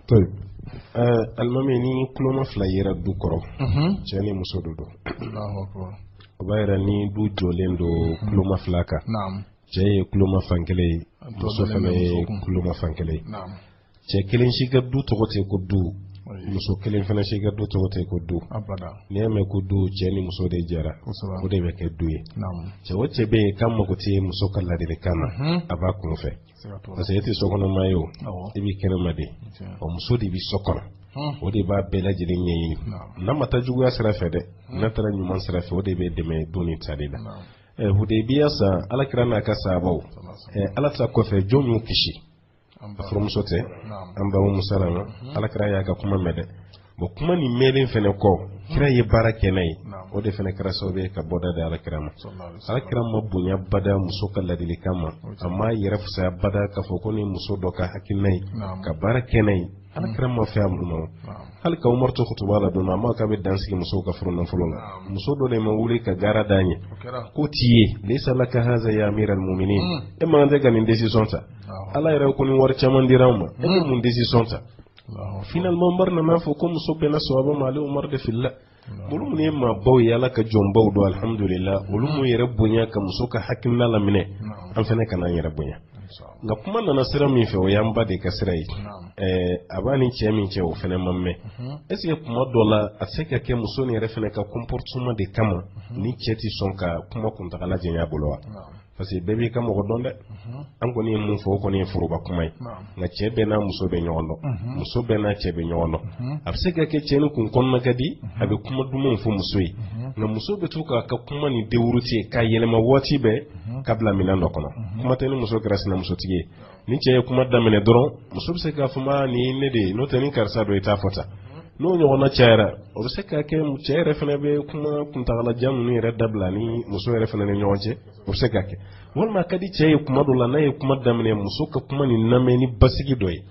tayibu, alimami ni kuloma fila yera du kɔrɔ mhm. cɛ ni muso don o b'a yira ni du jɔlen don kuloma fila kan cɛ ye kuloma fan kelen ye muso fana ye kuloma fan kelen ye cɛ kelen si ka du tɔgɔ tɛ ko du muso kelen fana si ka du tɔgɔ tɛ ko du n'i y'a mɛn ko du cɛ ni muso de jɛra o de bɛ kɛ du ye cɛ o cɛ bɛ yen k'a mago tɛ muso ka ladilikan na mhm. a b'a kun fɛ parce que e tɛ sokɔnɔma ye o i bɛ kɛnɛma de ɔ muso de bɛ so kɔnɔ o de b'a bɛɛ lajɛlen ɲɛɲini n'a ma taa juguya sira fɛ dɛ n'a taara ɲuman sira fɛ o de bɛ dɛmɛ don ni tali la hudaybiya san ala kira n'a ka sahabaw ala ta kɔfɛ jɔn y'u kisi a furumuso tɛ an ba umu salama ala kira y'a ka kuma mɛn dɛ bon kuma nin mɛnlen fana kɔ kira ye baara kɛ n'a ye o de fana kɛra sababu ye ka bɔda di alakira ma alakira ma bonya bada muso ka ladilikan ma a ma yɛrɛ fisaya bada k'a fɔ ko ni muso dɔ ka hakilina ye ka baara kɛ n'a ye alakira ma fɛ a mun na hali ka umaru to kutuba la don a ma k'a bɛ dan sigi musow ka furu nafolo la muso dɔ de ma wuli ka gaara d'an ye k'o t'i ye laysa laka haza ya amiral muminin e man kan tɛ ka nin décision ta ala yɛrɛ ko ni wari caman dira an ma e bɛ mun décision ta finalement Umar nana fɔ ko muso bɛnna sawaba ma ale Umar de filila olu minnu ye maabaw ye Ala ka jɔnbaw don alhamdulila olu m'u yɛrɛ bonya ka muso ka hakilina laminɛ an fana kana an yɛrɛ bonya nka kuma nana sira min fɛ o y'an ba de ka sira ye a b'a ni cɛ min cɛ o fana ma mɛn est ce que kuma dɔ la a tɛ se ka kɛ muso nin yɛrɛ fana ka comportement de kama ni cɛ tɛ sɔn ka kuma kuntagala janya bolo wa parce que bɛɛ b'i ka mɔgɔ dɔn dɛ an kɔni ye min fɔ o kɔni ye foroba kuma ye nka cɛ bɛɛ n'a muso bɛ ɲɔgɔn dɔn muso bɛɛ n'a cɛ bɛ ɲɔgɔn dɔn a bɛ se ka kɛ cɛ ni kun kɔnɔna ka di a bɛ kuma dumanw fɔ muso ye nka muso bɛ to k'a ka kuma ni dérouter k'a yɛlɛma waati bɛɛ ka bila minɛn dɔ kɔnɔ kuma tɛ ni muso kɛra sinamusotigi ye ni cɛ ye kuma daminɛ dɔrɔn muso bɛ se k'a fɔ ma nin ye ne de ye n'o tɛ ni karisa don i t'a fɔ tan n'o ɲɔgɔnna cayara o bɛ se ka kɛ cɛ yɛrɛ fana bɛ kuma kuntagalajan ninnu yɛrɛ dabila ni muso yɛrɛ fana ni ɲɔgɔn cɛ o bɛ se ka kɛ walima a ka di cɛ ye kuma dɔ la n'a ye kuma daminɛ muso ka kuma ni lamɛn ni basigi dɔ ye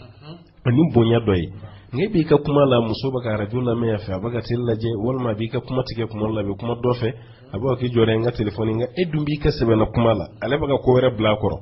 ani bonya dɔ ye nka e b'i ka kuma la muso bɛ ka arajo lamɛn yan fɛ a bɛ ka tele lajɛ walima a b'i ka kuma tigɛ kuma la a bɛ kuma dɔ fɛ a b'a k'i jɔra n ka telefɔni nka e dun b'i ka sɛbɛla kuma la ale bɛ ka ko wɛrɛ bila a kɔrɔ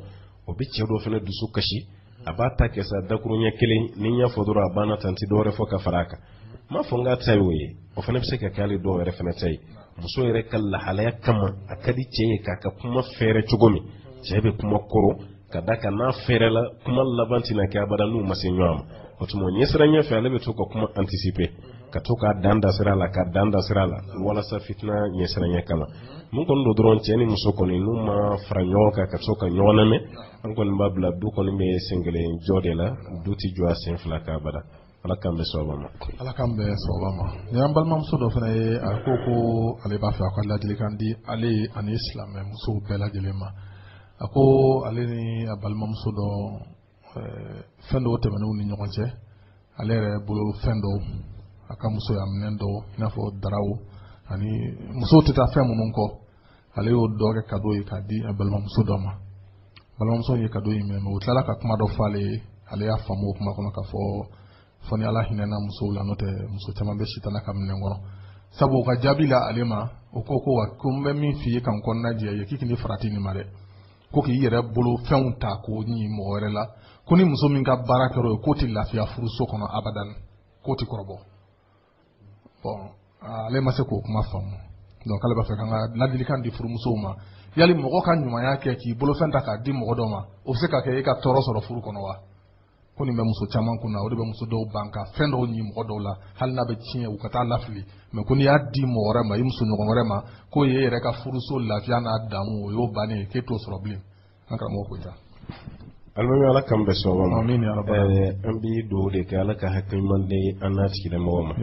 o bɛ cɛ dɔ fana dusu kasi a b'a ta kɛ sa dakurunɲɛ kelen ni n y'a fɔ dɔrɔn a banna tan n tɛ dɔwɛrɛ fɔ ka fara a kan n m'a fɔ n k'a ta ye o ye o fana bɛ se ka kɛ hali dɔw yɛrɛ fana ta ye muso yɛrɛ ka lahalaya kama a ka di cɛ ye k'a ka kuma fɛɛrɛ cogo min cɛ bɛ kuma kɔrɔ ka d'a kan n'a fɛɛrɛla kuma laban tɛna kɛ abada n'u ma se ɲɔgɔn ma o tuma ɲɛsiranɲɛ fɛ ale bɛ to ka kuma anticiper ka to ka dan dasira la ka dan dasira la walasa fitina ɲɛsiranya kama mun kɔni don dɔrɔn cɛ ni muso kɔni n'u ma fara ɲɔgɔn kan ka to ka ɲɔgɔn lamɛn an kɔni b'a bila du kɔni bɛ sen kelen jɔ de la du tɛ jɔ a sen fila kan abada ala k'an bɛn sababa ma ala k'an bɛn sababa ma nin y'an balimamuso dɔ fana ye a ko ko ale b'a fɛ a ka ladilikan di ale ani silamɛ musow bɛɛ lajɛlen ma a ko ale ni a balimamuso dɔ fɛn dɔw tɛmɛn'u ni ɲɔgɔn cɛ ale yɛrɛ bolo fɛn dɔw a ka musoya minɛn dɔw i n'a fɔ daraw ani musow tɛ taa fɛn minnu kɔ ale y'o dɔ kɛ kado ye k'a di a balimamuso dɔ ma balimamuso ye kado in minɛ o tilala ka kuma dɔ fɔ ale ye ale y'a faamu o kuma kɔnɔ k'a fɔ fɔ ni ala hinɛna musow la n'o tɛ muso caman bɛ sitana ka minɛn kɔnɔ sabu o ka jaabi la ale ma o ko ko wa ko n bɛ min f'i ye ka n kɔnɔna jɛ i ye k'i k'i farati nin ma dɛ ko k'i yɛrɛ bolo fɛnw ta k'o ɲi mɔgɔ wɛrɛ la ko ni muso min ka baara kɛra o ye k'o tɛ lafiya furuso kɔnɔ abadan k'o tɛ kɔrɔbɔ bon ale ma se k'o kuma faamu donc ale b'a fɛ k'an ka ladilikan di furumusow ma yali mɔgɔ ka ɲumanya kɛ k'i bolofɛn ta k'a di mɔgɔ dɔ ma o bɛ se ka kɛ e ka tɔɔrɔ sɔrɔ furu kɔnɔ wa ko nin bɛ muso caman kun na o de bɛ muso dɔw ban ka fɛn dɔw ɲi mɔgɔ dɔw la hali n'a bɛ tiɲɛ u ka taa lafili mais ko n'i y'a di mɔgɔ wɛrɛ ma i muso ɲɔgɔn wɛrɛ ma k'o ye e yɛrɛ ka furuso lafiya n'a daamu o y'o bannen ye k'e t'o sɔrɔ bilen an karamɔgɔ ko ja alimami ala k'an bɛn sababa ma an bɛ dugawu de kɛ ala ka hakiliman di an n'a tigilamɔgɔ ma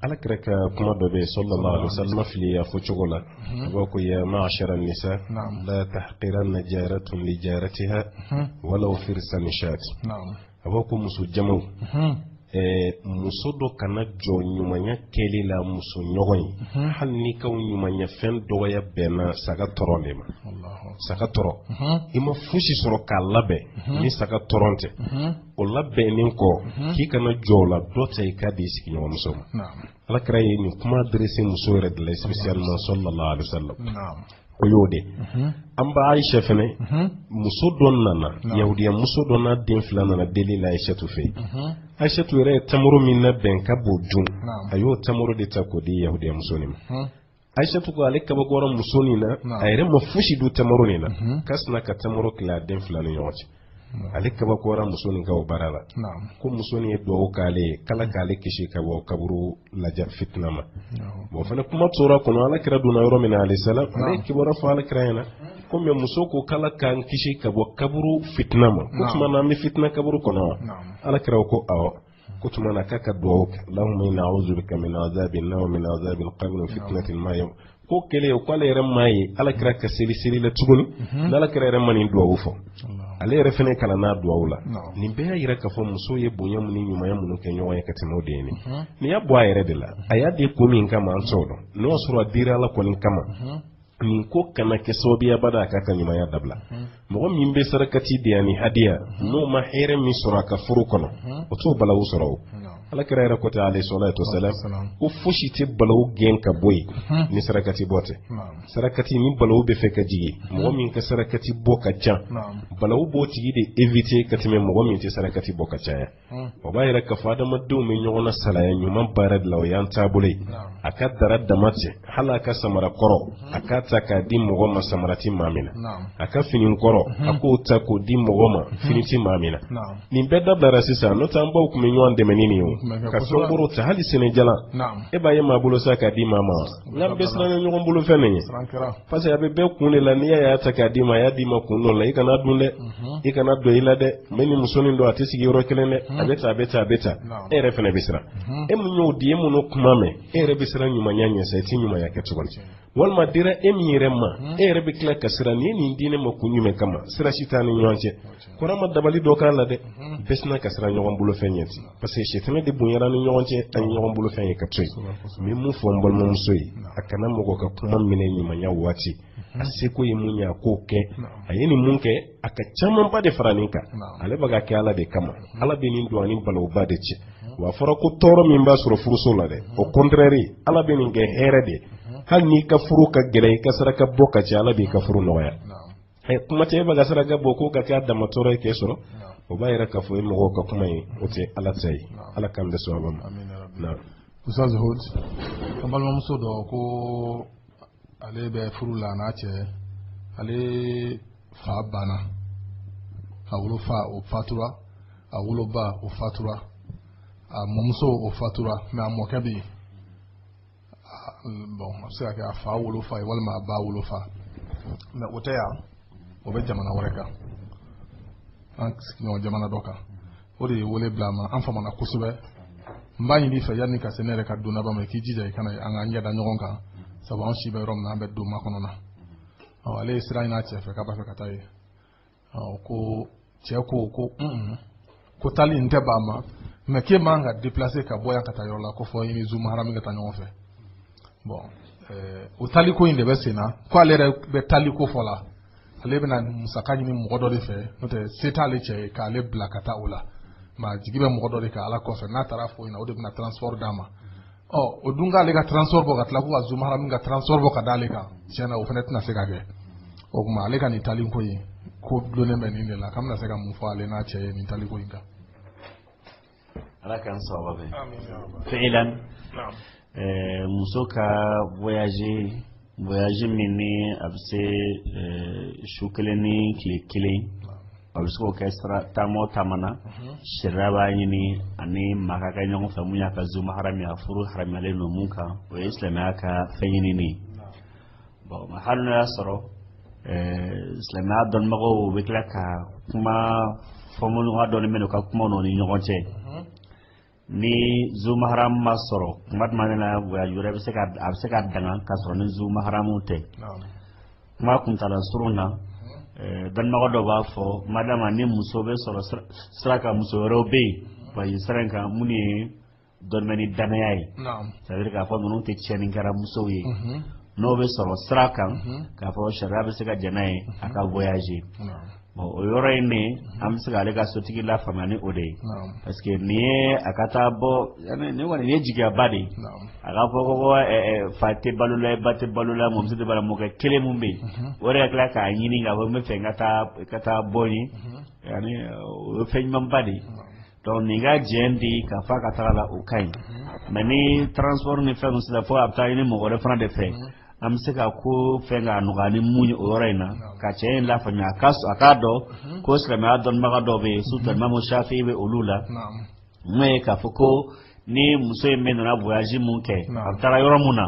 ala kira ka kuma dɔ bɛ yen sallallahu alaihi wasallam fili a fɔ cogo la ko ya ma'ashara nisa la tahqiranna jaratun li jaratiha walaw firsan shat a b'a ko muso jamaw muso dɔ kana jɔn ɲumanya kɛli la muso ɲɔgɔn ye hali ni i ka ɲumanya fɛn dɔgɔya bɛnna saga tɔrɔn de ma saga tɔrɔn i ma fosi sɔrɔ k'a labɛn ni saga tɔrɔn tɛ o labɛnnen kɔ k'i kana jɔn o la dɔ ta i k'a di i sigiɲɔgɔnmuso ma alakira ye nin kuma adressé muso yɛrɛ de la spécialement sallallahu alaihi wasallam o y'o de mhm. an ba Aisha fɛnɛ mhm. muso dɔ nana yahudiya muso dɔ n'a den fila nana deli la Aishatu fɛ mhm. Aishatu yɛrɛ ye tamaro min labɛn k'a b'o dun a y'o tamaro de ta k'o di yahudiya muso nin ma ayisatu ko ale kabakoyara muso nin na a yɛrɛ ma fosi dun tamaro nin na mhm. ka sina ka tamaro tila a den fila ni ɲɔgɔn cɛ ale kabakoyara muso nin ka o baara la ko muso nin ye dugawu k'ale ye k'ala k'ale kisi ka bɔ kaburu laja fitina ma bon fana kuma tor'a kɔnɔ ala kira donna yɔrɔ min na alayhi salam ale kibaruya fɔ ala kira ɲɛna ko mais muso ko k'ala k'an kisi ka bɔ kaburu fitina ma k'o tuma na an bɛ fitina kaburu kɔnɔ wa ala kira ko awɔ k'o tuma na k'a ka dugawu kɛ allahumma inna a'udhu bika min adhabin nar wa min adhabil qabr wa fitnatil mahya k'o kɛlen kɔ ale yɛrɛ m'a ye ala kira ka seli seli la tuguni mhm. n'ala kira yɛrɛ ma nin dugawu fɔ ale yɛrɛ fana kana n'a dugawu la nin bɛɛ y'a yira k'a fɔ muso ye bonya mun ni ɲumanya minnu kɛ ɲɔgɔn ye ka tɛmɛ o de ye nin mhm. nin y'a bɔ a yɛrɛ de la a y'a di ko min kama an t'o dɔn n'o y'a sɔrɔ a dira ala kɔni kama mhm. nin ko kana kɛ sababu ye abada a k'a ka ɲumanya dabila mɔgɔ min bɛ sarakati di ani hadiya n'o ma hɛrɛ min sɔrɔ a ka furu kɔnɔ o t'o balawu sɔrɔ o ala kira yɛrɛ ko ten alayhi salatu wasalam ko fosi tɛ balawu gɛn ka bɔ yen ni sarakati bɔ tɛ sarakati ni balawu bɛ fɛ ka jigin mɔgɔ min ka sarakati bɔ ka ca balawu b'o tigi de éviter ka tɛmɛ mɔgɔ min tɛ sarakati bɔ ka caya o b'a yira k'a fɔ adamadenw bɛ ɲɔgɔn nasalaya ɲuman baara de la o y'an taabolo ye a ka dara dama tɛ hali a ka samara kɔrɔ a k'a ta k'a di mɔgɔ ma samara tɛ maa min na a ka fini kɔrɔ a k'o ta k'o di mɔgɔ ma fini tɛ maa min na nin bɛɛ dabilara sisan n'o tɛ an baw tun bɛ ɲɔgɔn dɛmɛ ni nin ye o ka fɛn kɔrɔw ta hali sɛnɛjalan e b'a ye maa bolo sa k'a di maa ma wa N'an bɛ siran ɲɔgɔn bolofɛn ɲɛ parce que a bɛ bɛɛ kun de la n'i y'a y'a ta k'a d'i ma a y'a d'i ma kun dɔ la i kan'a dun dɛ i kan'a don i la dɛ mais ni muso nin don a tɛ sigi yɔrɔ kelen dɛ a bɛ taa a bɛ taa a bɛ taa e yɛrɛ fana bɛ siran e min y'o di e minnu kuma mɛn e yɛrɛ bɛ siran ɲumanya ɲɛ sa i tɛ ɲumanya kɛ tuguni walima a dira e min yɛrɛ ma e yɛrɛ bɛ tila ka siran nin ye nin di ne ma kun jumɛn kama sira si t'an ni ɲɔgɔn cɛ kori a ma dabali dɔ k'a la dɛ bɛɛ sina ka siran ɲɔgɔn bolofɛn ɲɛ ten parce que sitanɛ de bonyana an ni ɲɔgɔn cɛ an ye ɲɔgɔn bolofɛn ye ka to yen n bɛ mun fɔ n balimamuso ye a kana mɔgɔ ka kuma minɛ ɲumanya waati a seko ye mun ye a k'o kɛ a ye nin mun kɛ a ka camanba de fara nin kan ale bɛ k'a kɛ ala de kama ala bɛ nin don a ni balawuba de cɛ wa a fɔra ko tɔɔrɔ min b'a sɔrɔ furuso la dɛ au contraire ala bɛ nin kɛ hɛrɛ de hali n'i ka furu ka gɛlɛn i ka saraka bɔ ka ca ala b'i ka furu nɔgɔya eh, kuma tɛ e bɛ ka saraka bɔ k'o ka kɛ a dama tɔɔrɔ ye k'e sɔrɔ o b'a yira k'a fɔ o ye mɔgɔw ka kuma ye o tɛ ala ta ye ala k'an bɛn sawaba ma ustaz hud an balimamuso dɔ ko ale bɛ furu la n'a cɛ ale fa banna a wolofa o fatura a woloba o fatura a mɔmuso o fatura mais a mɔkɛ bɛ yen bon a bɛ se ka kɛ a fa wolofa ye walima a ba wolofa mais o tɛ yan o bɛ jamana wɛrɛ kan an sigiɲɔgɔn jamana dɔ kan o de ye wele bila a ma an famana kosɛbɛ n b'a ɲini fɛ yanni ka se ne yɛrɛ ka don laban ma i k'i jija i kana an ka ɲɛda ɲɔgɔn kan sabu an si bɛ yɔrɔ min na an bɛ don makɔnɔ na ale ye sira ɲini a cɛ fɛ k'a b'a fɛ ka taa yen ko cɛ ko ko ko taali in tɛ ban ma mais k'e man ka déplacer ka bɔ yan ka taa yɔrɔ la ko fo i ni zuma harami ka taa ɲɔgɔn fɛ bon o taali ko in de bɛ sen na ko ale yɛrɛ bɛ taali ko fɔ la ale bɛna musaka ɲini mɔgɔ dɔ de fɛ n'o tɛ se t'ale cɛ ye k'ale bila ka taa o la mais a jigi bɛ mɔgɔ dɔ de kan ala kɔfɛ n'a taara fɔ ɲɛna o de bɛna transport d'a ma ɔ o dun k'ale ka transport bɔ ka tila ko ka Zuma Haramu ka transport bɔ ka d'ale kan tiɲɛ na o fana tɛna se ka kɛ o tuma ale ka nin taali ko in ko dulonnen bɛ nin de la k'an bɛna se ka mun fɔ ale n'a cɛ ye nin taali ko in kan. ala k'an sababa bɛn. fi'ilan muso ka voyage. voyage min ni a bɛ se su kelen ni tile kelen a bɛ se k'o kɛ taama o taama na. sariya b'a ɲini a ni maa ka kɛ ɲɔgɔn fɛ mun y'a ka zuma harami ye a furu haramiyalen don mun kan o ye silamɛya ka fɛn ɲinini ye bon hali n'o y'a sɔrɔ silamɛya dɔnnibagaw u bɛ tila ka kuma fɔɲɔgɔnkɔ dɔɔni bɛ n'u ka kuma n'o ni ɲɔgɔn cɛ ni zumaharamu ma sɔrɔ kuma tuma min na voyage wɛrɛ bɛ se ka a bɛ se ka daga ka sɔrɔ ni zumaharamu tɛ kuma kuntaala surun na dɔnnibagaw dɔ b'a fɔ madama ni muso bɛ sɔrɔ sira kan muso wɛrɛw bɛ yen voyage sira in kan minnu ye dɔnni ni danaya ye c'est à dire k'a fɔ ninnu tɛ tiɲɛnikɛla musow ye n'o bɛ sɔrɔ sira kan k'a fɔ sariya bɛ se ka jɛn n'a ye a ka voyage bon o yɔrɔ in ne an bɛ se k'ale ka sotigi lafaamuya ni o de ye parce que nin ye a ka taa bɔ ne kɔni nin ye jigiyaba de ye a ka fɔ ko fa tɛ balo la ba tɛ balo la mɔmuso tɛ balo la mɔkɛ kelen min bɛ yen o de ka tila k'a ɲini k'a fɔ n bɛ fɛ n ka taa bɔ yen yaani o ye fɛn ɲumanba de ye donc nin ka jɛn di k'a fɔ a ka taga la o ka ɲi mais ni transport ni fɛn sera fo a bɛ taa ɲini mɔgɔ wɛrɛ fana de fɛ an bɛ se ka ko fɛn k'a nɔgɔya ni mun ye o yɔrɔ in na ka cɛ in lafaamuya a ka a k'a dɔn ko silamɛya dɔnnibaga dɔw bɛ yen surtout imamu shafi'i bɛ olu la mun ye k'a fɔ ko ni muso in bɛ nana voyage mun kɛ a bɛ taara yɔrɔ mun na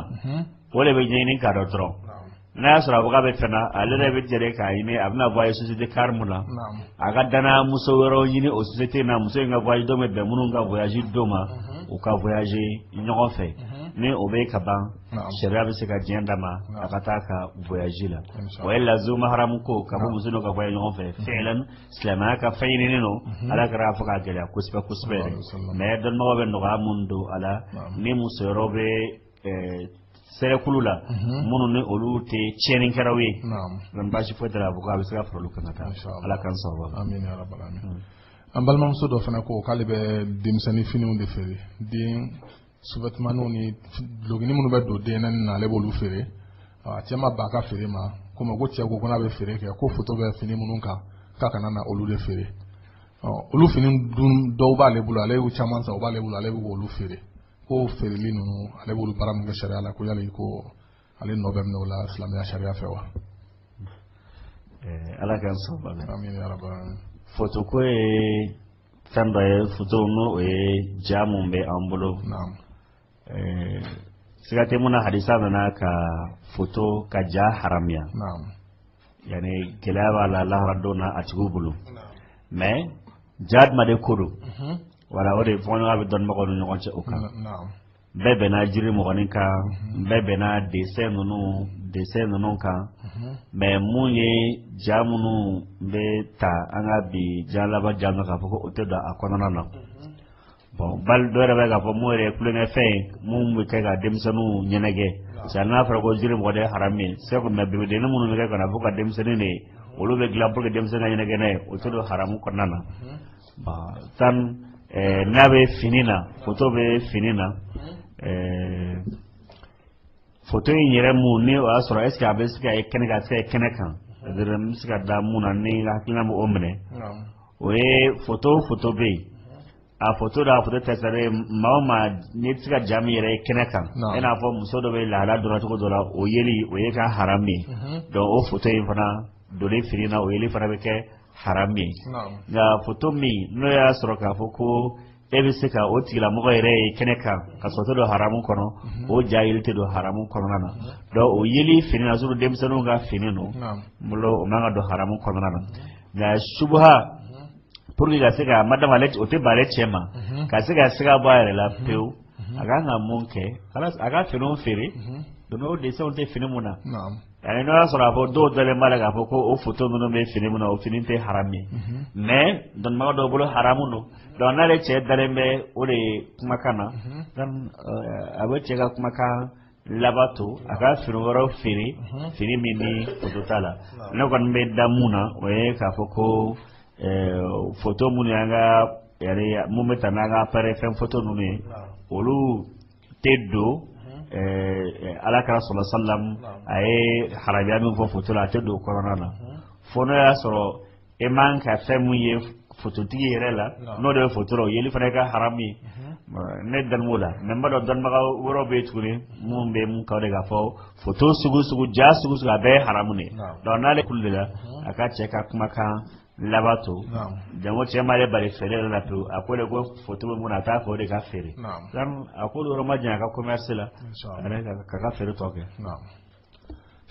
o de bɛ ɲɛɲini k'a dɔn dɔrɔn n'a y'a sɔrɔ a baga bɛ fɛn na ale yɛrɛ bɛ jɛre k'a ɲini a bɛna voyage société car mun na a ka danaya muso wɛrɛw ɲini o société in na muso in ka voyage don bɛ bɛn minnu ka voyage don ma u ka voyage ɲɔgɔn fɛ ni o bɛ ka ban sariya bɛ se ka diɲɛ d'a ma a ka taa a ka voyage la o ye la zumaharamu ko k'a fɔ muso n'o ka voyage ɲɔgɔn fɛ fɛnɛ silamɛya ka fɛn ɲinini don ala kira y'a fɔ k'a gɛlɛya kosɛbɛ kosɛbɛ yɛrɛ mais dɔnnibagaw bɛ nɔgɔya minnu don a la ni muso yɔrɔ bɛ sɛrɛkulu la minnu ni olu tɛ tiɲɛnikɛlaw ye donc baasi foyi tɛ a ko a bɛ se ka fara olu kan ka taa ala ka sɔrɔ an balimamuso dɔ fana ko k'ale bɛ denmisɛnnin finiw de feere den sous-vêtementninw ni dulɔkinin minnu bɛ don den naani na ale b'olu feere a cɛ ma ban a ka feere ma komi ko cɛ ko ko n'a bɛ feere kɛ ko foto bɛ fini minnu kan k'a kana na olu de feere olu fini dun dɔw b'ale bolo ale y'u caman san u b'ale bolo ale bɛ k'olu feere ko feereli ninnu ale b'olu baara min kɛ sariya la ko yali ko ale nɔ bɛ minɛ o la silamɛya sariya fɛ wa eh, ala k'an sɔn bon foto ko ye fɛn dɔ ye foto n'o o ye ja mun bɛ an bolo eh, siga tɛ mun na hadisa nana ka foto ka ja haramuya ani gɛlɛya b'a la lahara don na a tigiw bolo mais ja jumɛn de ko don mhm. voilà o de fɔɲɔgɔn bɛ dɔnnibagaw ni ɲɔgɔn cɛ o kan bɛɛ bɛnna jiri mɔgɔnin kan mhm. bɛɛ bɛnna dessin ninnu dessin ninnu kan mhm. mais mun ye ja minnu bɛ ta an ka bi ja laban ja k'a fɔ ko o tɛ don a kɔnɔna na mhm. bon bali dɔ yɛrɛ bɛ k'a fɔ mun yɛrɛ ye tulonkɛfɛn ye mun bɛ kɛ ka denmisɛnninw ɲɛnajɛ parce que n'a fɔra ko jiri mɔgɔ de ye haramu ye c'est que mais bebedennin minnu bɛ kɛ ka na fo ka denmisɛnnin de ye olu bɛ dilan pour que denmisɛnnin ka ɲɛnajɛ n'a ye o tɛ don haramu kɔnɔna na tan n'a bɛ fini na foto bɛ fini na foto in yɛrɛ mun ni o y'a sɔrɔ est-ce que a bɛ se ka ye kɛnɛ kan a bɛ se ka ye kɛnɛ kan n bɛ se ka da mun na ne hakilina bɛ o minɛ o ye foto foto bɛ yen a foto da a foto tɛ sɛbɛn ye maa o maa n'i tɛ se ka ja min yɛrɛ ye kɛnɛ kan i n'a fɔ muso dɔ bɛ lahala dɔrɔn cogo dɔ la o yeli o ye ka haram ye donc o foto in fana donlen fini na o yeli fana bɛ kɛ haram ye nka foto min n'o y'a sɔrɔ k'a fɔ ko e bɛ se ka o tigilamɔgɔ yɛrɛ ye kɛnɛ kan ka sɔrɔ o tɛ don haramu kɔnɔ mhm. o ja yeli tɛ don haramu kɔnɔna na mhm. donc o yeli fini na surtout denmisɛnninw ka fini don n bolo o man ka don haramu kɔnɔna na nka subuha mhm. pour que ka se ka madame ale o tɛ ban ale cɛ ma ka se ka siga bɔ a yɛrɛ la pewu a kan ka mun kɛ a ka finiw feere donc o dessinw tɛ fini mun na Ayi n'o y'a sɔrɔ a fɔ dɔw dalen b'a la k'a fɔ ko o photo ninnu bɛ fini min na o fini tɛ haram ye mais dɔnnibaa dɔw bolo haram don donc n'ale cɛ dalen bɛ o de kumakan na a bɛ cɛ ka kumakan labato a ka fini wɛrɛw feere fini min ni photo t'a la ne kɔni bɛ da mun na o ye k'a fɔ ko photo minnu y'an ka mun bɛ ta n'an ka appareil fɛn photo ninnu ye olu tɛ don ala kira sallallahu alaihi wasallam a ye haramuya min fɔ foto la a tɛ don kɔnɔna na fo n'o y'a sɔrɔ e man kan ka fɛn min ye fototigi yɛrɛ la n'o de bɛ foto la o yeli fana ka haramu ye ne dalen b'o la mais n b'a dɔn dɔnnibaga wɛrɛw bɛ yen tuguni minnu bɛ min ka de k'a fɔ foto sugu sugu ja sugu sugu a bɛɛ ye haramu de donc n'ale kulu de la a ka cɛ ka kumakan labato jango cɛ m'ale bali feere yɛrɛ la pewu a ko de ko foto bɛ mun na a t'a fɛ o de ka feere a k'o yɔrɔ majanya a ka commerce la k'a ka feere tɔ kɛ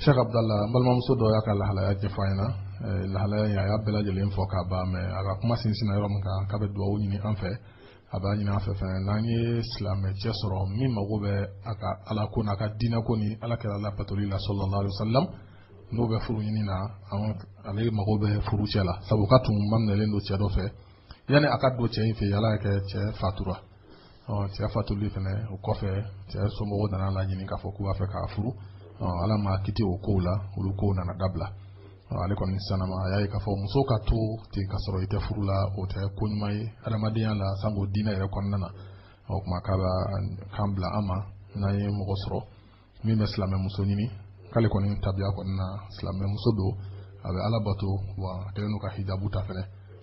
Cheikh Abdallah n balimamuso dɔ y'a ka lahalaya ɲɛfɔ an ɲɛ na eh, lahalaya in a y'a bɛɛ lajɛlen fɔ k'a ban mais a ka kuma sinsinna yɔrɔ min kan k'a bɛ dugawu ɲini an fɛ a b'a ɲini an fɛ fɛnɛ n'an ye silamɛ cɛ sɔrɔ min mago bɛ a ka ala ko n'a ka diinɛ ko ni ala kira labatoli la sallallahu alaihi wasallam n'o bɛ furu ɲini na ale mago bɛ furu cɛ la sabu k'a tun maminɛlen don cɛ dɔ fɛ yanni a ka don cɛ in fɛ yen ala y'a kɛ cɛ fatura cɛ fatuli fana o kɔfɛ cɛ somɔgɔw nana a laɲini k'a fɔ k'u b'a fɛ k'a furu ala ma kiti o kow la olu kow nana dabila ale kɔni sanama a y'a ye k'a fɔ muso ka to ten k'a sɔrɔ i tɛ furu la o tɛ ko ɲuman ye adamadenya la sanko diinɛ yɛrɛ kɔnɔna na o tuma k'a b'a kan bila an ma n'an ye mɔgɔ sɔrɔ min bɛ silamɛmuso ɲini k'ale kɔni tabiya kɔni na silamɛmuso don a bɛ ala bato wa a kɛlen don ka hijabu ta fɛnɛ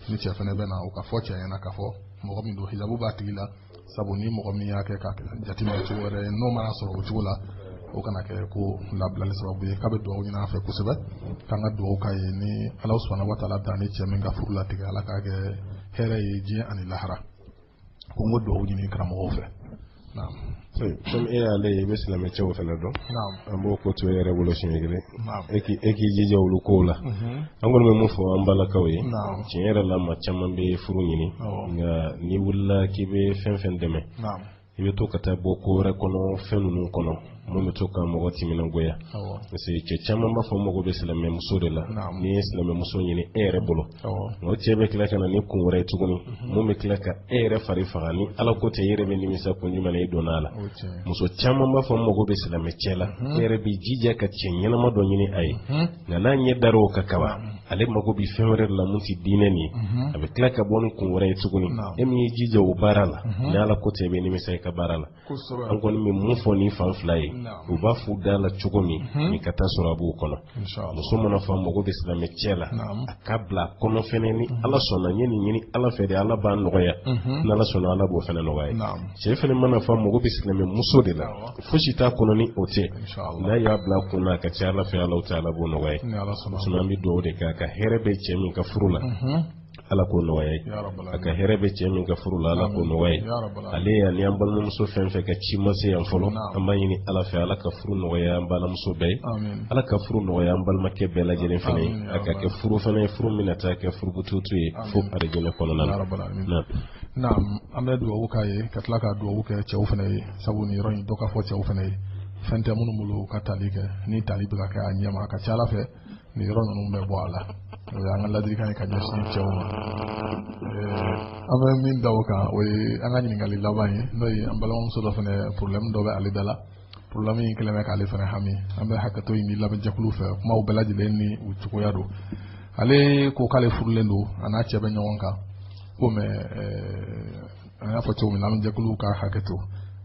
ni cɛ fɛnɛ bɛ na o k'a fɔ cɛ ɲɛ na k'a fɔ mɔgɔ min don hijabu b'a tigi la sabu ni mɔgɔ min y'a kɛ ka jateminɛ cogo wɛrɛ ye n'o mana sɔrɔ o cogo la o kana kɛ ko labilali sababu ye k'a bɛ dugawu ɲini an fɛ kosɛbɛ k'an ka dugawu k'a ye ni ala subhanahu wa taala y'a ni cɛ min ka furu latigɛ ala k'a kɛ hɛrɛ ye diɲɛ ani lahara ko n k'o dugawu ɲini karamɔgɔw fɛ comme e y'ale ye i bɛ silamɛ cɛw fana dɔn an b'o ko to e yɛrɛ bolo siɲɛ kelen e k'i jija olu kow la an kɔni bɛ mun fɔ an balakaw ye tiɲɛ yɛrɛ la maa caman bɛ furu ɲini nka n'i wulila k'i bɛ fɛn fɛn dɛmɛ i bɛ to ka taa bɔ ko wɛrɛ kɔnɔ fɛn ninnu kɔnɔ mun bɛ to ka mɔgɔ timinangoya parce que cɛ caman b'a fɔ mago bɛ silamɛmuso de la n'i ye silamɛmuso ɲini e yɛrɛ bolo o cɛ bɛ tila ka na ni kun wɛrɛ ye tuguni mhm. mun bɛ tila ka e yɛrɛ fari faga ni ala ko tɛ e yɛrɛ bɛ nimisa kun jumɛn na i donna a la muso caman b'a fɔ mago bɛ silamɛ cɛ la mhm. e yɛrɛ b'i jija ka cɛ ɲɛnama dɔ ɲini a ye mhm. nka n'a ɲɛ dar'o kan kaban ale mago bɛ fɛn wɛrɛ de la mun tɛ diinɛ nin ye a bɛ tila ka bɔ ni kun wɛrɛ ye tuguni e min y'i jija o baara la ni ala ko tɛ e bɛ nimisa i ka baara la an kɔni bɛ mun fɔ nin fan fila ye u b'a f'u da la cogo min ni ka taa sɔrɔ a b'u kɔnɔ muso man'a f'a mago bɛ silamɛ cɛ la a k'a bila a kɔnɔ fɛnɛ ni ala sɔnna n ye nin ɲini ala fɛ de ala b'a nɔgɔya ni ala sɔnna ala b'o fɛnɛ nɔgɔya cɛ fɛnɛ man'a f'a mago bɛ silamɛ muso de la fosi t'a kɔnɔ ni o tɛ n'a y'a bila a kun na a ka ca a la fɛnɛ ala taala b'o nɔgɔya sinon an bɛ dugawu de kɛ a ka hɛrɛ bɛ cɛ min ka furu la Ala k'o nɔgɔya a ye, ya rabal alamin, a ka hɛrɛ bɛ cɛ min ka furu la Ala k'o nɔgɔya a ye, ya rabal alamin, ale ani an balimamuso fɛn fɛn ka ci ma se yan fɔlɔ, naamu, an b'a ɲini Ala fɛ Ala ka furu nɔgɔya an balimamuso bɛɛ ye, amin, Ala ka furu nɔgɔya an balimakɛ bɛɛ lajɛlen fana ye, amin, ya rabal a ka kɛ furu fana ye furu min na taa kɛ furukututu ye Amin. fo arijinɛ kɔnɔna na. ya rabal alamin. Naamu. Naam, an bɛ dugawu k'a ye ka tila ka dugawu kɛ cɛw fana ye sabu nin yɔrɔ in dɔ ka fɔ cɛw fana ye fɛn tɛ minnu bolo u ka tali kɛ ni tali bɛ ka kɛ a ɲɛma a ka ca Ala fɛ nin yɔrɔ ninnu bɛ bɔ a la o ye an ka ladilikan ye ka ɲɛsin cɛw ma an bɛ min da o kan o ye an ka ɲininkali laban ye n'o ye an balimamuso dɔ fana porobilɛmu dɔ bɛ ale da la porobilɛmu in kɛlen bɛ k'ale fana hami an bɛ hakɛto ɲini lamɛnjɛkulu fɛ kumaw bɛɛ lajɛlen ni u cogoya don ale ko k'ale furulen don a n'a cɛ bɛ ɲɔgɔn kan ko mais an y'a fɔ cogo min na lamɛnjɛkuluw ka hakɛto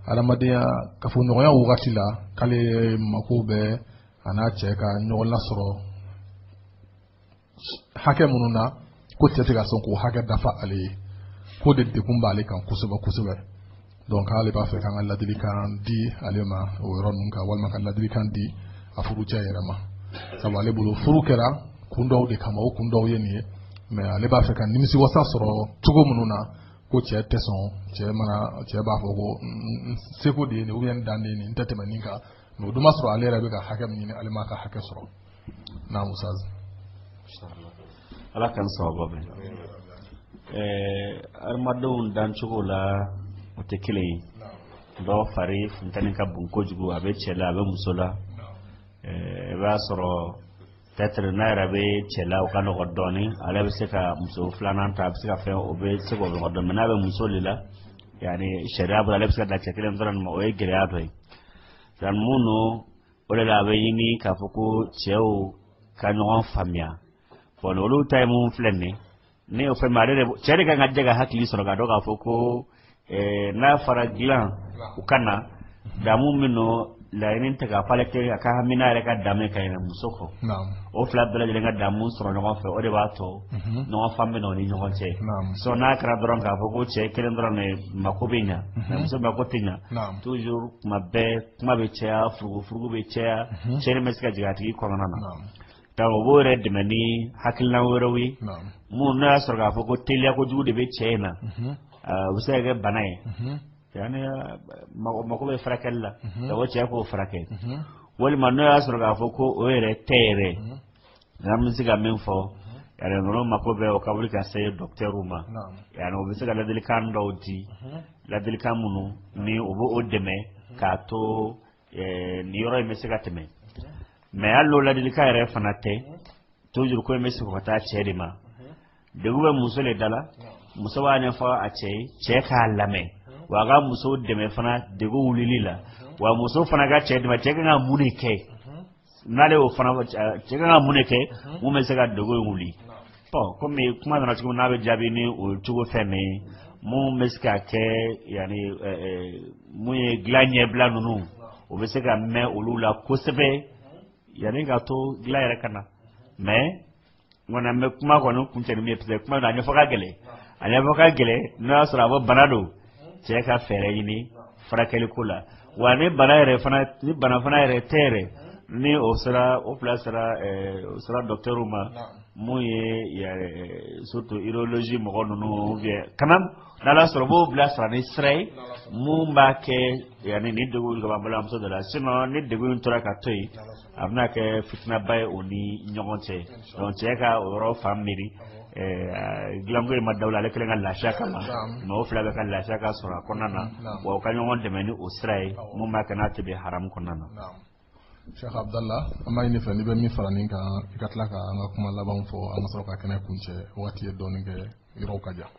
adamadenya kafoɲɔgɔnya wagati la k'ale mako bɛ a n'a cɛ ka ɲɔgɔn lasɔrɔ hakɛ minnu na ko cɛ tɛ ka sɔn k'o hakɛ dafa ale ye k'o de degun b'ale kan kosɛbɛ kosɛbɛ donc k'ale b'a fɛ k'an ka ladilikan di ale ma o yɔrɔ ninnu kan walima ka ladilikan di a furucɛ yɛrɛ ma sabu ale bolo furu kɛra kun dɔw de kama o kun dɔw ye nin ye mais ale b'a fɛ ka nimisiwasa sɔrɔ cogo minnu na ko cɛ tɛ sɔn cɛ mana cɛ b'a fɔ ko seko de ye nin ou bien dan de ye nin n tɛ tɛmɛ nin kan mais o dun b'a sɔrɔ ale yɛrɛ bɛ ka hakɛ min ɲini ale m'a ka hakɛ sɔrɔ naam ustaz Ala ka sababu bɛ adamadenw dancogo la o tɛ kelen ye dɔw fari funteni ka bon kojugu a bɛ cɛ la a bɛ muso la i b'a sɔrɔ peut-être n'a yɛrɛ bɛ cɛ la o ka nɔgɔ dɔɔnin ale bɛ se ka muso filanan ta a bɛ se ka fɛn o bɛ se k'o nɔgɔ dɔɔnin n'a bɛ muso de la yani sariya bolo ale bɛ se ka da cɛ kelen dɔrɔn ma o ye gɛlɛya dɔ ye yani mun don o de la a bɛ ɲini k'a fɔ ko cɛw ka ɲɔgɔn faamuya bon olu ta ye mun filɛ nin ye ne y'o fɛn min ale de cɛ de kan ka jɛ ka hakili sɔrɔ k'a dɔn k'a fɔ ko eh, n'a fara dilan u ka na damu min nɔ laɲini tɛ k'a fɔ ale cɛ ka hami n'a yɛrɛ ka damu ye ka ɲinɛ muso kɔ o fila bɛɛ lajɛlen ka damu sɔrɔ ɲɔgɔn fɛ o de b'a to mhm. ɲɔgɔn faamu bɛ na o ni ɲɔgɔn cɛ sɔ n'a kɛra dɔrɔn k'a fɔ ko cɛ kelen dɔrɔn de mako bɛ ɲa mhm. muso mako tɛ ɲa toujours kuma bɛɛ kuma bɛ caya furugufurugu bɛ caya mhm. cɛ bɛ se ka jigin a tigi kɔnɔna na Ka u b'u yɛrɛ dɛmɛ ni hakilina wɛrɛw ye minnu n'a y'a sɔrɔ k'a fɔ ko teliya kojugu de bɛ cɛ in na o bɛ se ka kɛ bana ye mako bɛ furakɛli la ka bɔ cɛ k'o furakɛ walima n'o y'a sɔrɔ k'a fɔ ko o yɛrɛ tɛ yɛrɛ n'an bɛ se ka min fɔ ninnu mako bɛ o ka wuli ka se docteur ma yani u bɛ se ka ladilikan dɔw di ladilikan minnu ni u bɛ o dɛmɛ k'a to eh, nin yɔrɔ in bɛ se ka tɛmɛ mais hali n'o ladilikan yɛrɛ fana tɛ toujours ko in bɛ segin ka taa cɛ de ma degun bɛ muso de da la muso b'a ɲɛfɔ a cɛ ye cɛ k'a lamɛn wa a ka muso dɛmɛ fana degun wulili la wa muso fana ka cɛ dɛmɛ cɛ ka kan ka mun de kɛ n'ale y'o fana cɛ ka kan ka mun de kɛ mun bɛ se ka degun in wuli bon kɔmi kuma nana cogo min n'a bɛ jaabi ni o cogo fɛn min ye mun bɛ se ka kɛ ani mun ye dilan ɲɛbila ninnu o bɛ se ka mɛn olu la kosɛbɛ yanni ka to dilan yɛrɛ ka na mais nka an bɛ kuma kɔni kuncɛ ni min ye kuma na a ɲɛfɔ ka gɛlɛn a ɲɛfɔ ka gɛlɛn n'o y'a sɔrɔ a bɔ bana don cɛ ka fɛɛrɛ ɲini furakɛli ko la wa ni bana yɛrɛ fana ni bana fana yɛrɛ tɛ yɛrɛ ni o sera o fila sera ɛɛ o sera dɔkitɛriw ma mun ye surtout urologie mɔgɔ ninnu ou bien quand même n'Ala sɔnna b'o bila sira ni sira ye mun b'a kɛ yanni nin degun ka bɔ an balimamuso dɔ la sinon ni degun in tora ka to yen a bɛna kɛ fitinaba ye o ni ɲɔgɔn cɛ donc cɛ ka o yɔrɔ fan miiri dilanko in ma dabɔ ale kelen ka lafiya kama mɔgɔ fila bɛɛ ka lafiya ka sɔrɔ a kɔnɔna na wa u ka ɲɔgɔn dɛmɛ ni o sira ye mun b'a kɛ n'a tɛ bin haramu kɔnɔna na Sheikh Abdallah an b'a ɲini i fɛ n'i bɛ min fara nin kan i ka tila ka an ka kuma laban fɔ an ka sɔrɔ ka kɛnɛ kuncɛ waati ye dɔɔnin kɛ yɔrɔw ka jan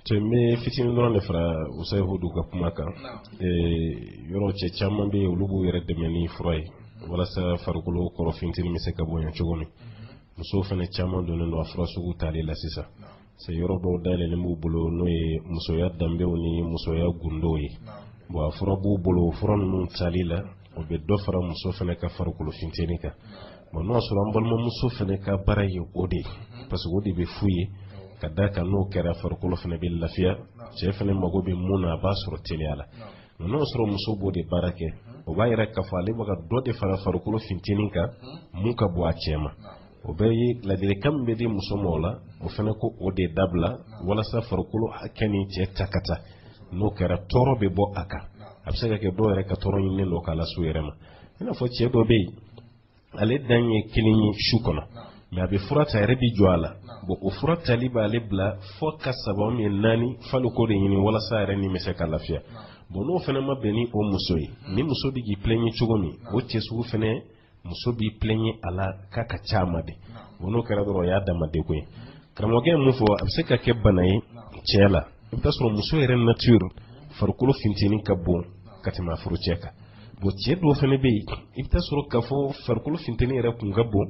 cɛ n bɛ fitinin dɔrɔn de fara usayi hudu ka kuma kan yɔrɔ cɛ caman bɛ yen olu b'u yɛrɛ dɛmɛ ni fura ye walasa farikolo kɔrɔ finteni bɛ se ka bonya cogo min musow fana caman donnen don a fura sugu tali la sisan yɔrɔ dɔw dayɛlɛlen b'u bolo n'o ye musoya danbew ni musoya gundow ye bon a fura b'u bolo fura ninnu tali la o bɛ dɔ fara muso fana ka farikolo finteni kan bon n'o y'a sɔrɔ an balimamuso fana ka baara ye o de ye parce que o de bɛ f'u ye ka da kan n'o kɛra farikolo fana bɛ lafiya cɛ fana mago bɛ mun na a b'a sɔrɔ teliya la nka n'o y'a sɔrɔ muso b'o de baara kɛ o b'a yira k'a fɔ ale bɛ ka dɔ de fara farikolo finteni kan mun ka bon a cɛ ma o bɛɛ ye ladilikan min bɛ di muso ma o la o fana k'o de dabila walasa farikolo hakɛ ni cɛ ta ka taa n'o kɛra tɔɔrɔ bɛ bɔ a kan a bɛ se ka kɛ dɔw yɛrɛ ka tɔɔrɔ ɲininen don k'a lase u yɛrɛ ma i n'a fɔ cɛ dɔ bɛ yen ale dan ye kelen ye su kɔnɔ mais a bɛ fura ta yɛrɛ bɛ jɔ a la bon o fura tali b'ale bila fo ka saba min naani falo ko de ɲini walasa yɛrɛ ni bɛ se ka lafiya bon n'o fana ma bɛn ni o muso ye ni muso bɛ k'i plaindre cogo min o cɛ sugu fana muso b'i plaindre a la k'a ka ca a ma de bon n'o kɛra dɔrɔn o y'a dama degun ye karamɔgɔkɛ ye mun fɔ a bɛ se ka kɛ bana ye cɛ la i bɛ taa sɔrɔ muso yɛrɛ nature farikolo finteni ka bon ka tɛmɛ a furucɛ kan bon cɛ dɔw fana bɛ yen i bɛ taa sɔrɔ k'a fɔ farikolo finteni yɛrɛ kun ka bon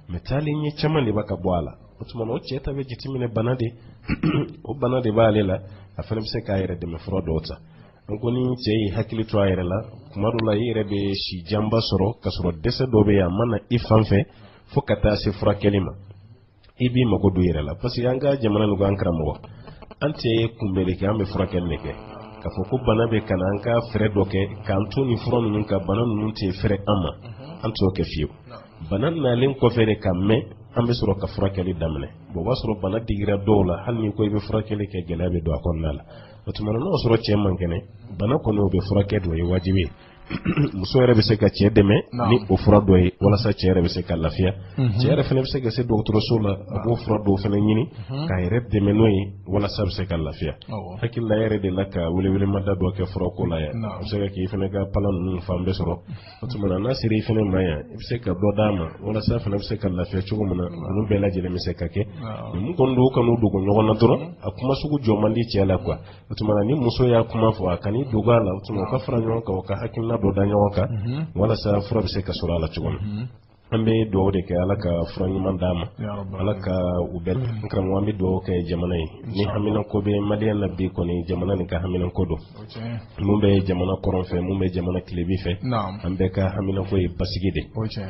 mais taalen ɲɛ caman de bɛ ka bɔ a la o tuma na o cɛ ta bɛ jateminɛ bana de o bana de b'ale la a fana bɛ se k'a yɛrɛ dɛmɛ fura dɔw ta n ko ni cɛ y'i hakili to a yɛrɛ la kuma dɔ la i yɛrɛ bɛ si janba sɔrɔ k'a sɔrɔ dɛsɛ dɔ bɛ yen a ma na i fan fɛ fo ka taa se furakɛli ma i b'i mago don i yɛrɛ la parce que an ka jamana nin kɔnɔ karamɔgɔ an tɛ kunbɛli kɛ an bɛ furakɛli de kɛ k'a fɔ ko bana bɛ ka na an ka fɛɛrɛ dɔ kɛ k'an to nin fura ninnu kan bana ninnu tɛ fɛrɛ an ma an t'o kɛ fiyewu bana nalen kɔfɛ de ka mɛn an bɛ sɔrɔ ka furakɛli daminɛ bon o b'a sɔrɔ bana digira dɔw la hali n'i ko i bɛ furakɛli kɛ gɛlɛya bɛ don a kɔnɔna la o tuma na n'o sɔrɔ cɛ man kɛnɛ bana kɔni o bɛ furakɛ d'o ye wajibi ye muso yɛrɛ bɛ se ka cɛ dɛmɛ ni o fura dɔ ye walasa cɛ yɛrɛ bɛ se ka lafiya cɛ yɛrɛ fana bɛ se ka se dɔgɔtɔrɔso la a b'o fura dɔw fana ɲini k'a yɛrɛ dɛmɛ n'o ye walasa a bɛ se ka lafiya hakili la yɛrɛ delila ka welewelemada dɔ kɛ furako la yan a bɛ se ka k'i fana ka palan ninnu fan bɛɛ sɔrɔ o tuma na n'a sera i fana ma yan i bɛ se ka dɔ d'a ma walasa a fana bɛ se ka lafiya cogo min na olu bɛɛ lajɛlen bɛ se ka kɛ mun kɔni don u kan'u dogo ɲɔgɔn na dɔrɔn a kuma sugu jɔ man di cɛ la quoi o tuma na ni muso y'a kuma fɔ a kan'i dogo a la o tuma u ka fara ɲɔgɔn kan u ka hakilina dɔ da ɲɔgɔn kan walasa fura bɛ se ka sɔrɔ a la cogo min an bɛ dugawu de kɛ ala ka fura ɲuman d'a ma ala ka u bɛɛ mm. karamɔgɔ an bɛ dugawu kɛ jamana ye ni haminako bɛ maliyɛn na bi kɔni jamana nin ka haminako don mun bɛ jamana kɔrɔn fɛ mun bɛ jamana tilebi fɛ an bɛɛ ka haminako ye basigi de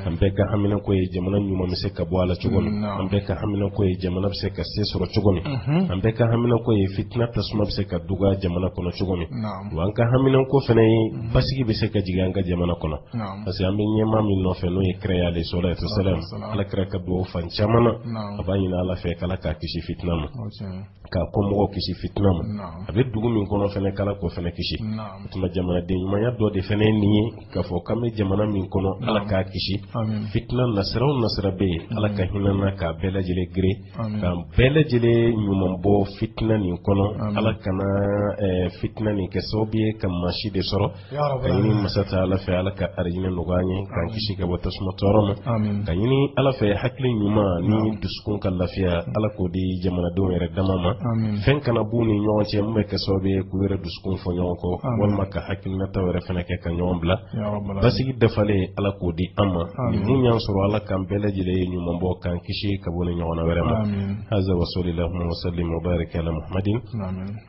an bɛɛ ka haminako ye jamana ɲuman bɛ se ka bɔ a la cogo min an bɛɛ ka haminako ye jamana bɛ se ka se sɔrɔ cogo min mm-hmm. an bɛɛ ka haminako ye fitina tasuma bɛ se ka duga jamana kɔnɔ cogo min wa an ka haminako fana ye mm-hmm. basigi bɛ se ka jigin an ka jamana kɔnɔ parce que an bɛ ɲɛmaa min nɔfɛ n'o ye kira ye sallallahu alaihi wasallam ala kira ka dugawu fan caman na a b'a ɲini ala fɛ k'ala k'a kisi fitina ma k'a kɔmɔgɔw kisi fitina ma a bɛ dugu min kɔnɔ fɛnɛ k'ala k'o fɛnɛ kisi o tuma jamanaden ɲumanya dɔ de fɛnɛ ye nin ye k'a fɔ k'an bɛ jamana min kɔnɔ ala k'a kisi fitina nasira o nasira bɛ yen ala ka hinɛ an na k'a bɛɛ lajɛlen gere k'an bɛɛ lajɛlen ɲuman bɔ fitina nin kɔnɔ ala kana fitina nin kɛ sababu ye ka maa si de sɔrɔ a ɲini masa taala fɛ ala ka arijinɛ nɔgɔya an ye k'an kisi ka bɔ tasuma tɔɔrɔ ma k'a ɲini ala fɛ hakili ɲuman ni dusukun ka lafiya ala k'o di jamanadenw yɛrɛ dama ma fɛn kana b'u ni ɲɔgɔn cɛ min bɛ kɛ sababu ye k'u yɛrɛ dusukun fɔ ɲɔgɔn kɔ walima ka hakilinataw yɛrɛ fana kɛ ka ɲɔgɔn bila basigi dafalen ala k'o di an ma ni mun y'an sɔrɔ ala k'an bɛɛ lajɛlen ye ɲuman bɔ k'an kisi ka bɔ ni ɲɔgɔnna wɛrɛ ma haza wasɔlilahuma wasalim wa barika ala muhamadin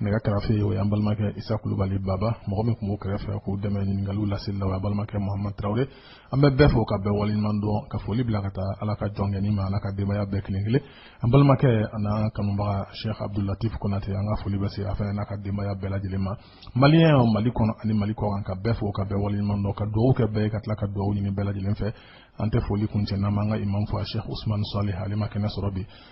nɛgɛ karafe o y'an balimakɛ isa kulubali baba mɔgɔ min tun b'o kɛrɛfɛ k'o dɛmɛ ɲininkaliw laseli la o y'an balimakɛ muhamadu tarawele an bɛ bɛɛ fo ka bɛɛ waleɲuman dɔn ka foli bila ka taa ala ka jɔnkɛni ma an'a ka denbaya bɛɛ kelen kelen an balimakɛ an'an kanubaga sheikh abdulatif konate an ka foli bɛ se a fana n'a ka denbaya bɛɛ lajɛlen ma maliyɛnw mali kɔnɔ ani mali kɔkan ka bɛɛ fo ka bɛɛ waleɲuman dɔn ka dugawu kɛ bɛɛ ye ka tila ka dugawu ɲini bɛɛ lajɛlen fɛ an tɛ foli kuncɛ n'an m'an ka imam fo a sheikh usman salih ale ma kɛnɛ sɔrɔ bi